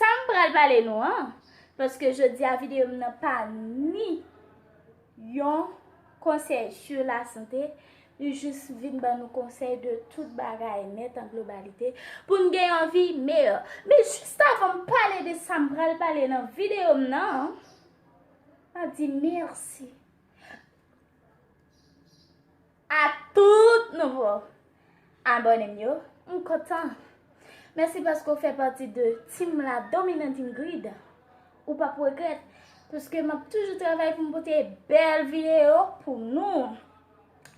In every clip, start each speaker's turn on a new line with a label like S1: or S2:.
S1: Sam pral pale nou an, paske jodia video m nan pa ni yon konsèy sur la sante, li jis vin ban nou konsèy de tout bagay nèt an globalite, pou n gen yon vi meyò. Men jist avan m pale de sa m pral pale nan video m nan, map di mèsi. A tout nouvo abòne m yo, m kontan. Mèsi paske w fè pati de team la dominante Ingrid. Ou p ap regrèt paske m ap toujou travay pou m pote bèl videyo pou nou.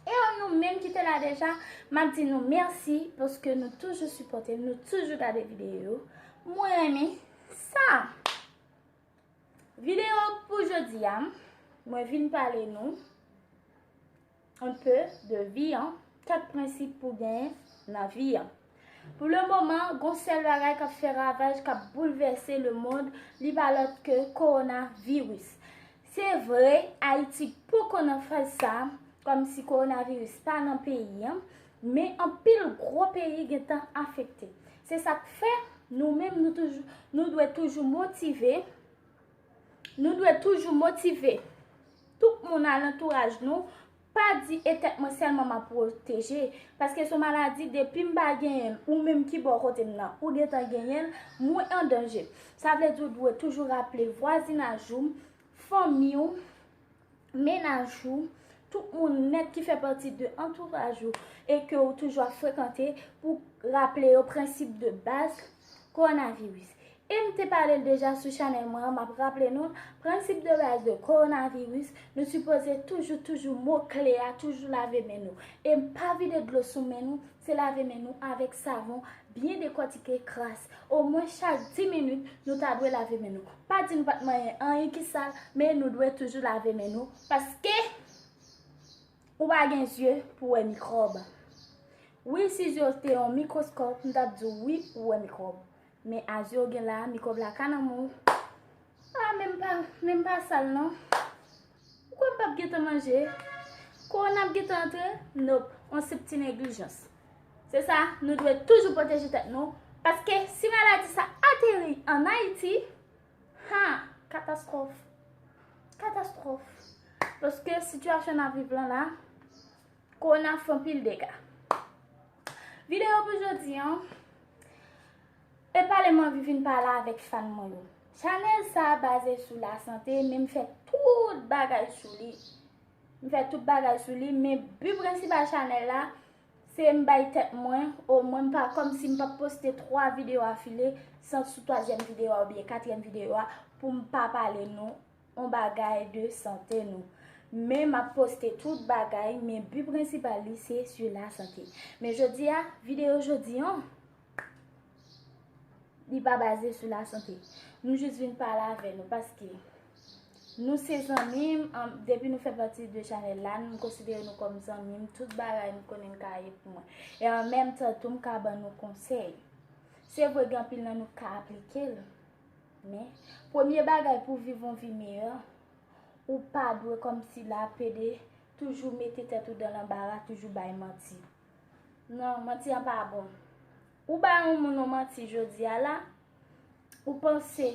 S1: E a nou menm ki te la deja, m ap di nou mèsi paske nou toujou sipòte m, nou toujou gade videyo yo. Mwen renmen sa! Video pou jodi a mwen vin pale nou un peu de vi an 4 prensip pou gen nan vi an. Pou le moman gon sèl bagay kap fè ravaj kap boulvèse le mond li pa lòt ke korona viris. Se vre ayiti poko nan faz sa kòm si korona viris pa nan peyi an men anpil gro peyi gentan afekte. Se sa k fè, nou menm nou toujou, nou dwe toujou motive, nou dwe toujou motive tout moun alantouraj nou, pa di e tèt mwen sèlman m ap pwoteje, paske s on maladi depi m pa genyen l, ou menm ki bò kote m nan, ou gen tan genyen l, mwen an danje. Sa vle di ou dwe toujou raple vwazinaj ou, fanmi ou. menaj ou, tout moun nèt ki fè pati de antouraj ou e ke ou toujou ap frekante pou raple yo prensip de baz kowonaviris. E m te pale l deja sou chanèl mwen an, m ap raple nou l, prensip de baz de kowonaviris, nou sipoze toujou toujou mo kle a toujou lave men nou. E pa vide dlo sou men nou Se lave men nou avèk savon, byen dekòtike, kras. Omwen chak 10 minit, nou ta dwe lave men nou. Pa di nou pa t manyen anyen ki sal, men nou dwe toujou lave men nou paske ou pa gen zye pou wè mikròb. Wi, si zye w te yon mikwoskòp, m t ap di w wi ou wè mikwòb. Men a zye w gen la a, mikwòb la ka nan men w. A, men m pa sal non. Ou kwè m pap gentan manje? Kowona ap gentan antre? Nop, on senp ti neglijans. Se sa, nou dwe toujou pwoteje tèt nou, paske si maladi sa ateri an Ayiti, ha! Katastwòf! Katastwòf! Paske sitiyasyon n ap viv lan la, kowona ap fè anpil dega. Videyo pou jodi an, E pale manvi vin pale avek fan mwen yo. Chanel sa baze sou la sante men mfè tout bagay sou li. Mfè tout bagay sou li men but principal chanel la se mbay tèt mwen o mwen mpa kom si mpap poste 3 video a file san sou 3 zièm video a oubyen 4 zièm video a pou mpa pale nou on bagay de sante nou. Men map poste tout bagay men but principal li se sou la sante. Men jodia video jodi an. Li pa baze sou la sante. Nou jis vin pale avè nou paske nou se zanmi m. Depi nou fè pati de chanèl la, nou konsidere nou kòm zanmi m. Tout bagay nou konnen nou ka ye pou mwen. E an menm tan tou m ka ban nou konsèy. Se vre gen anpil nan nou k ka aplike l. Men, premye bagay pou viv yon vi meyè, ou pa dwe kòm si la pede, toujou mete tèt ou dan lanbara, toujou bay manti. Non, manti an pa bon. Ou bay yon moun yon manti jodi a la, ou panse,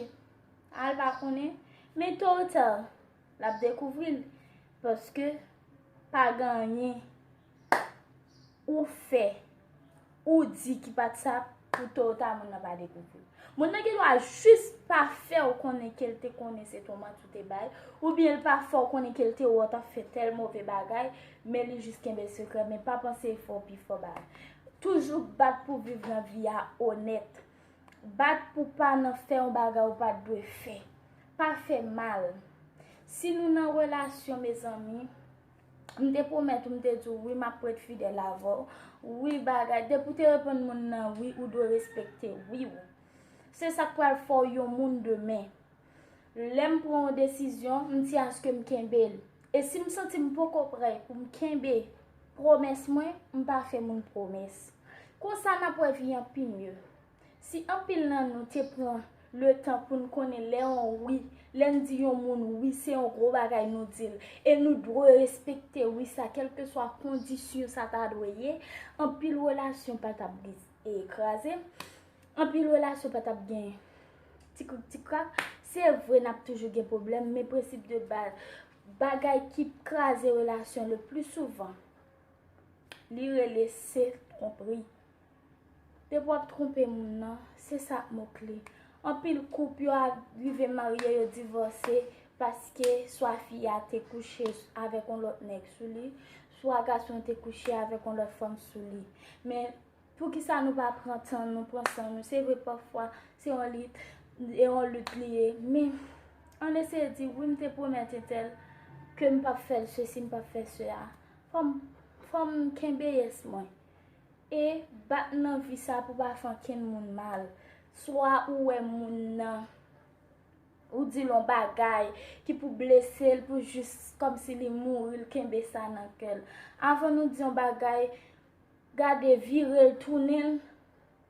S1: a l pa konnen, men to ou ta, l ap dekouvri l. Paske, pa gen anyen ou fè, ou di ki pa t sa pou to ou ta moun nan pa dekouvri l. Moun nan gen dwa jis pa fè ou konnen ke l te konnen se te yon manti ou te bay, oubyen l pa fè ou konnen ke l te wè w t ap fè tèl move bagay, Men li jis kenbe sekrè men pa panse e fè w pi fò ba. Toujou bat pou viv nan vi a onèt. Bat pou pa nan fè yon bagay ou pat dwe fè. Pa fè mal. Si nou nan relasyon mezanmi, m te pwomèt ou m te di w wi m ap ret fidèl avè w, wi bagay, depi w te reponn moun nan wi ou dwe respekte wi w. Se sa k pral fè w yon moun demen. Lè m pran yon desizyon, m di aske m kenbe l. E si m santi m poko prè pou m kenbe pwomès mwen, m pa fè moun pwomès. Konsa n ap wè vi an pi mye. Si anpil nan nou te pran letan pou n konnen lè yon wi, lè n di yon moun wi se yon gwo bagay nou di l, e nou dwe respekte wi sa kèlkeswa kondisyon sa ta dwe ye, anpil relasyon pa t ap kraze. Anpil relasyon pa tap gen ti krik ti krak, se vre nap toujou gen pwoblèm men prensip de baz bagay ki kraze relasyon le pli souvan li rele se twonpri. Depi wap twonpe moun nan, se sa ak mo kle. Anpil koup yo arive marye yo divòse paske swa fi a te kouche avèk yon lòt nèg sou li, swa gason te kouche avèk yon lòt fanm sou li. Poukisa nou pa pran tan nou, pran san nou. Se vre pafwa se yon lit, e yon lit li ye. Men, ann eseye di, wi m te pwomèt entèl ke m pap fè sesi, m pap fè sela. Fò m kenbe yès mwen. E bat nan vi sa pou pa fè ankenn moun mal. Swa ou wè moun nan, ou di l yon bagay ki pou blese l, pou jis kòmsi li mouri, l kenbe sa nan kè l. Avan nou di yon bagay. Gade virel tounenl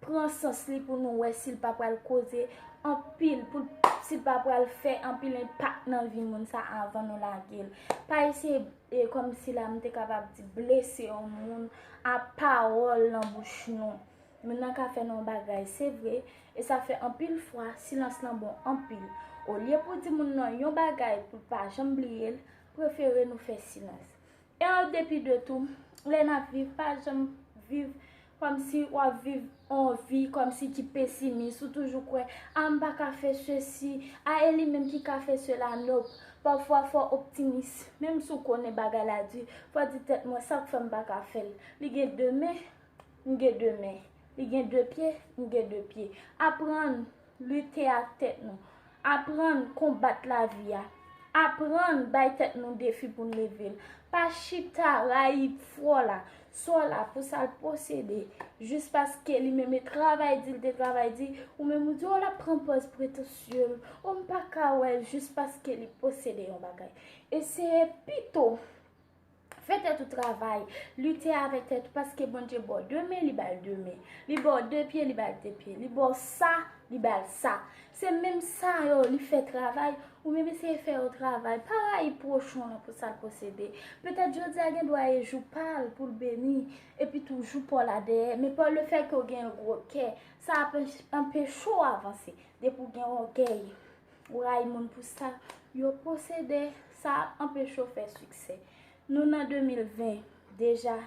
S1: pran sans li pou nou wè sil pa pral koze anpil pou sil pa pral fè anpil enpak nan vi moun sa avan nou lagel. Pa eseye kòmsi la m te kapab di blese yon moun a pawòl nan bouch nou. Moun nan ka fè nou yon bagay se vre e sa fè anpil fwa silans lan bon anpil. Olye pou di moun nan yon bagay poul pa janm bliyel, prefere nou fè silans. Ew depi de tou, lè nap viv pa janm viv kòmsi wap viv on vi kòmsi ki pesimis ou toujou kwè ah m paka fè sesi ah e li menm ki ka fè sela nop pafwa fò optimis menm si w konnen bagay la di fò di tèt mwen sak fè m paka fèl li gen de men m gen de men li gen de pye m gen de pye aprann Lite ak tèt nou. Aprann konbat lavi a. Aprann bay tèt nou defi pou n leve l. Pa chita rayi fwò la, sò la pou sa l posede. Jis paske li menm e travay di li te travay di, ou menm ou di o l ap pran pòz pretansye l, o m pa ka wè l jis paske li posede yon bagay. Eseye pito. Fè tèt ou travay, lite avèk tèt ou paske Bondye ba w de men, li ba l de men. Li ba w de pye, li ba l de pye. Li ba w sa, li ba l sa. Se menm sa yo li fè travay, ou menm eseye fè yo travay. Pa rayi pwochen w lan pou sa l posede. Petèt jodi a gen dwa e jou pa l pou l beni, epi tou jou pa w la dèyè. Men pa lefètke w gen yon gwo kè, sa ap anpeche w avanse depi w gen ògèy. Ou rayi moun pou sa yo posede, sa ap anpeche w fè siksè. Nou nan 2020, deja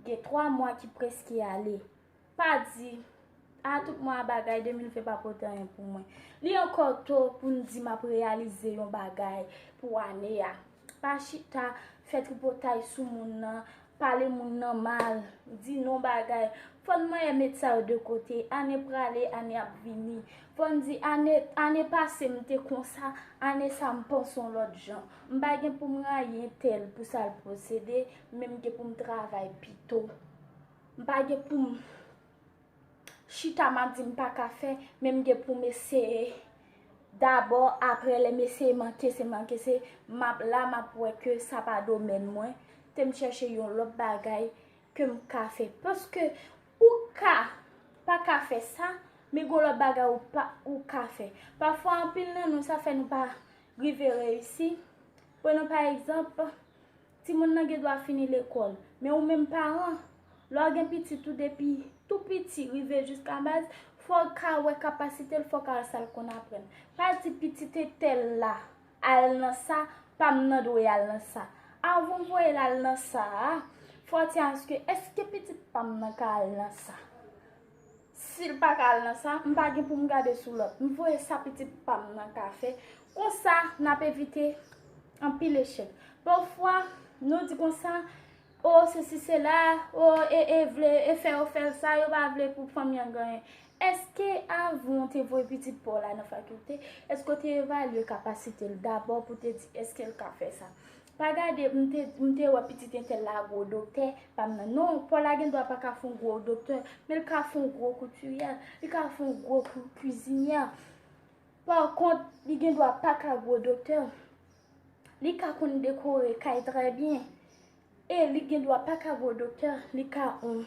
S1: gen 3 mwa ki preske ale. Pa di, A tout mwa a bagay 2020 pa pote anyen pou mwen. Li ankò to pou n di m ap reyalize yon bagay pou ane a. Pa chita fè tripotay sou moun nan. Pale moun nan mal, di non bagay. Fò n manyen met sa yo de kote. Ane prale, ane ap vini. Fò n di ane pase m te konsa, ane sa m panse yon lòt jan. M pa gen pou m rayi entèl pou sa l posede, men m gen pou m travay pito. M pa gen pou m. Chita map di m pa ka fè men m gen pou m eseye dabò aprè lè m eseye manke se manke se map la map wè ke sa pa domèn mwen tem chèche yon lòt bagay ke m ka fè paske ou ka pa ka fè sa men gon lòt bagay ou pa ou ka fè pafwa anpil nan nou sa fè nou pa rive reyisi pran nou pa egzanp Timoun nan gen dwa fini lekòl. Men ou menm paran, lè w gen pitit ou depi tou piti rive jiska baz, fò w ka wè kapasite l, fò w ka wè sa l konn aprann. Pa di pitit entèl la al nan sa, pa m nan dwe al nan sa. Avan w voye l al nan sa a, fò w di aske, èske pitit pa m nan ka al nan sa? Sil pa ka al nan sa, m pa gen pou m gade sou lòt. M voye sa pitit pa m nan ka fè. Konsa, n ap evite anpil echèk. Pafwa, nou di konsa, O, sesi sela, o, e, e vle, e fè yo fè sa, yo pa vle pou fanmi an genyen. Eske avan w te voye pitit pa w la nan fakilte, eske w te evalye kapasite l dabò pou te di eske l ka fè sa? Pa gade m te m te wè pitit entèl la gwo doktè pa m nan non paw la gendwa pa ka fon gwo doktè men l ka fon gwo koutiryè li ka fon gwo kwizinyè pa kont li gendwa pa ka gwo doktè li ka konn dekore kay trè byen e li gendwa pa ka gwo doktè li ka on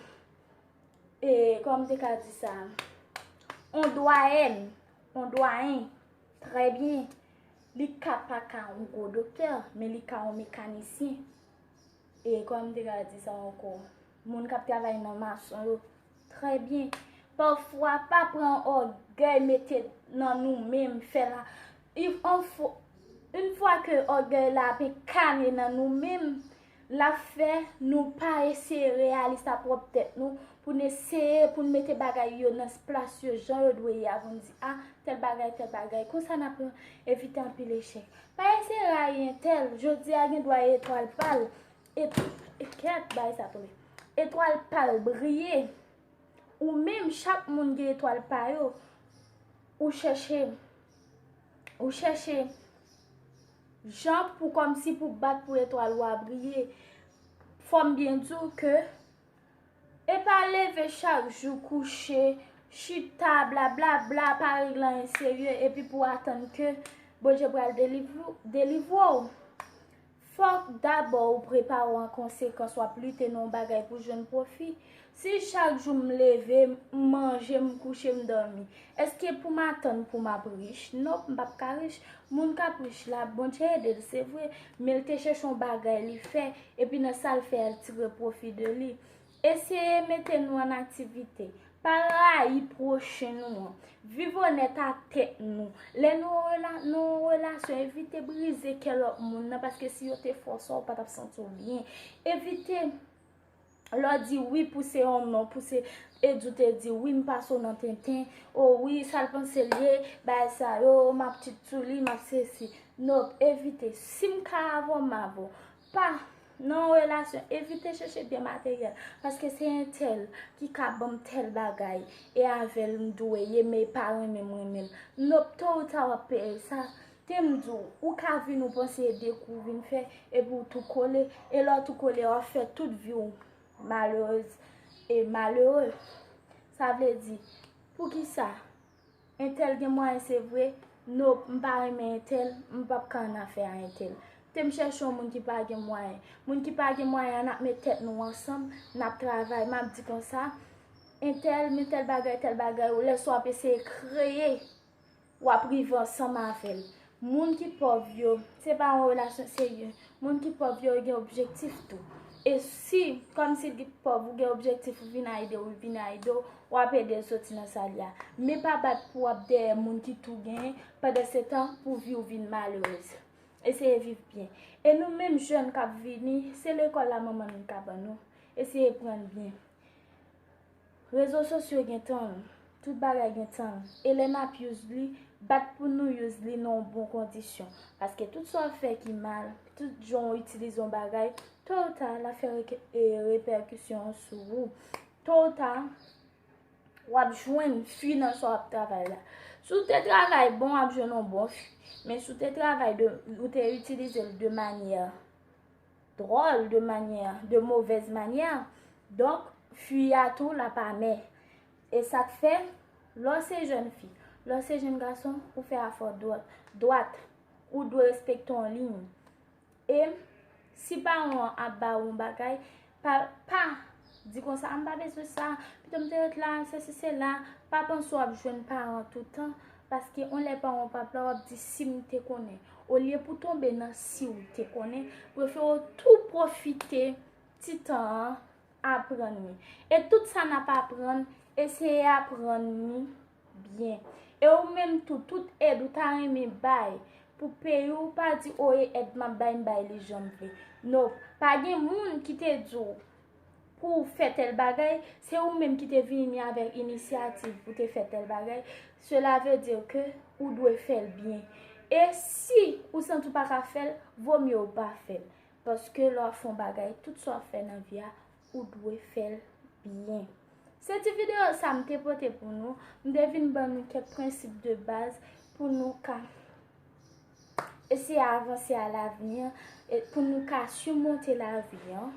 S1: e kòman m te ka di sa on dwayèn on dwayen trè byen Li ka pa ka yon gwo doktè, men li ka yon mekanisyen. E kòm m te ka di sa ankò, moun k ap travay nan mason yo, trè byen. Pafwa, pa pran ògèy mete nan nou menm, fè la. Yon fwa ke ògèy la ap enkane nan nou menm, L ap fè nou pa eseye reyalis a pwòp tèt nou pou n eseye pou n mete bagay yo nan plas yo jan yo dwe ye a pou n di, a, tèl bagay, tèl bagay. Konsa n ap evite anpil echèk. Pa eseye rayi entèl, jodi a gen dwa e etwal pa l, kèt, bagay sa tonbe, etwal pa l briye. Ou menm, chak moun gen etwal pa yo, ou chèche. Ou chèche jan pou kòmsi pou bat pou etwal ou a briye. Fòm byen di ou ke e pa leve chak jou kouche, chita, bla bla bla, pa regle anyen serye epi pou atann ke Bondye pral delivre ou. Fòk dabò ou prepare w an konsekans w ap lite nan yon bagay pou jwenn pwofi. Si chak jou m leve, m manje, m kouche, m dòmi, èske pou m atann pou m ap rich? Nonp, m p ap ka rich. Moun k ap rich la, Bondye ede l se vre, men l te chèche yon bagay li fè, epi nan sa l fè a l tire pwofi de li. Eseye mete nou an aktivite. Pa rayi pwochen nou an. Viv onèt a tèt nou. Lè nou nan yon relasyon, evite brize kè lòt moun nan paske si yo te fòse w, ou pa t ap santi w byen. Evite lè w di wi pou se yon non, pou se Eddy ou te di wi m pase w nan tenten, o wi sa l panse l ye, bagay sa yo, m ap tchitchou li, m ap sesi. Nop, evite. Si m ka avè w, m avè w. Pa Nan yon relasyon evite chèche byen materyèl paske se entèl ki ka banm tèl bagay e avèl m dwe ye men pa renmen m renmen l nop to ou ta wap peye sa Tem di w ou ka vin ou panse e de kou vin fè epi w tou kole e lè w tou kole wap fè tout vi w malerez e malere sa vle di poukisa Entèl gen mwayen se vre, no m pa renmen entèl, m p ap ka annafè a entèl. Kte m chèche yon moun ki pa gen mwayen. Moun ki pa gen mwayen an n ap met tèt nou ansanm, n ap travay. M ap di konsa, entèl men tèl bagay, tèl bagay, lè sa w ap eseye kreye, w ap rive ansanm avè l. Moun ki pòv yo, se pa yon relasyon serye. Moun ki pòv yo, yo gen objektif tou. E si, kòm si ki pòv, ou gen objektif ou vin a ede ou, vin a ede ou, w ap ede l soti nan sa l ye a. Men pa bat pou w ap dèyè moun ki tou genyen, pandan se tan pou vi w vin malerèz. Eseye viv byen. E nou menm jèn k ap vini, se lekòl la manman nou ka ban nou. Eseye pran n byen. Rezo sosyo gen tan l. Tout bagay gen tan l. E lè n ap use li, bat pou nou use li nan yon bon kondisyon. Paske tout sa w fè ki mal, tout jan w itilize yon bagay, to ou ta, l ap fè repèkisyon sou ou. To ou ta, w ap jwenn fwi nan sa w ap travay la. Si w te travay bon, w ap jwenn yon bon fwi. Men si w te travay, ou te itilize l de manyè. Dròl de manyè, de movèz manyè. Donk, fi a tou l ap amè. E sa k fè, lè w se jèn fi, lè w se jèn gason, ou fè afè w dwat. Ou dwe respekte yon liy. E si paran w ap ba ou yon bagay, pa. Di konsa, m pa bezwen sa, pito m te ret la, sesi sela, pa panse w ap jwenn paran w toutan, paske yon lè paran w pa p la w ap di si m te konnen, olye pou tonbe nan si w te konnen, prefere w tou pwofite ti tan an aprann li. E tout sa n ap aprann, eseye aprann li. Byen. E ou menm tou, tout èd ou ta renmen bay pou peyi w pa di oye èd m ap bay m bay li jan m vle. No. Pa gen moun ki te di w pou w fè tèl bagay, se ou menm ki te vini avèk inisyativ pou te fè tèl bagay, sela ve di ke ou dwe fè l byen. E si ou santi w pa ka fè l, vo mye ou pa fè l. Paske lè w ap fè yon bagay, tout sa w ap fè nan vi a, ou dwe fèl byen. Se ti video sa m te pote pou nou, m te vin ban nou kèk prensip de baz pou nou ka eseye avanse a lavni an, pou nou ka simonte lavi an.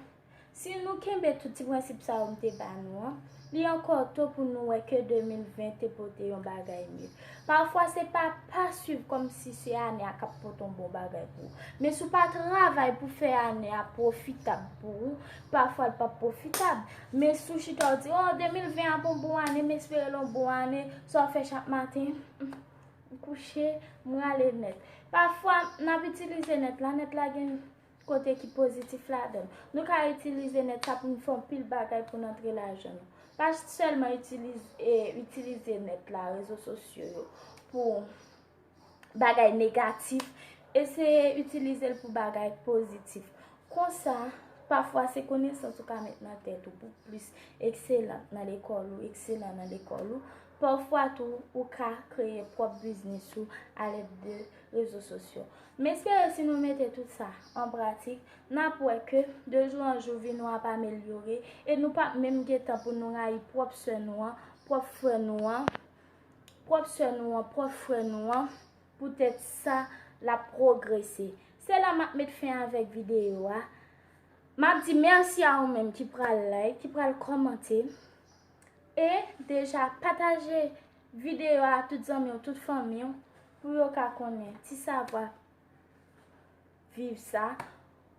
S1: Si nou kenbe tout ti prensip sa yo m te ba nou an. Li ankò to pou nou wè ke 2020 te pote yon bagay mye. Pafwa se pa pa swiv kòm si se ane a kap pote yon bon bagay pou ou. Men si w pa travay pou fè ane a pwofitab pou ou, pafwa l pap pwofitab. Men si w chita w di, oh 2020 ap yon bon ane, m espere l yon bon ane, sa w fè chak maten, m kouche, m rale nèt. Pafwa nap itilize nèt la, nèt la gen. Kote ki pozitif ladan l. Nou ka itilize nèt sa pou n fè yon pil bagay pou n antre lajan nou. Pa sèlman itilize nèt la, rezo sosyo yo pou bagay negatif. Eseye itilize l pou bagay pozitif. Konsa, pafwa se konesans ou ka met nan tèt ou pou plis ekselan nan lekòl ou, ekselan nan lekòl ou. Pafwa tou, ou ka kreye pwòp biznis ou alèd de rezo sosyo. M espere si nou mete tout sa an pratik, n ap wè ke de jou an jou vi nou ap amelyore e nou p ap menm gen tan pou nou rayi pwòp sè nou an, pwòp frè nou an, pwòp sè nou an, pwòp frè nou an poutèt sa l ap pwogrese. Se la m ap met fen avèk videyo a. M ap di mèsi a ou menm ki pral like, ki pral kòmante e deja pataje Videyo a tout zanmi w tout fanmi w pou yo ka konnen ti savwa viv sa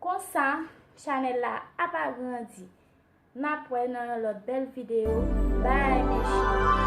S1: konsa chanèl la ap agrandi n ap wè nan yon lòt bèl videyo bay mes cheri.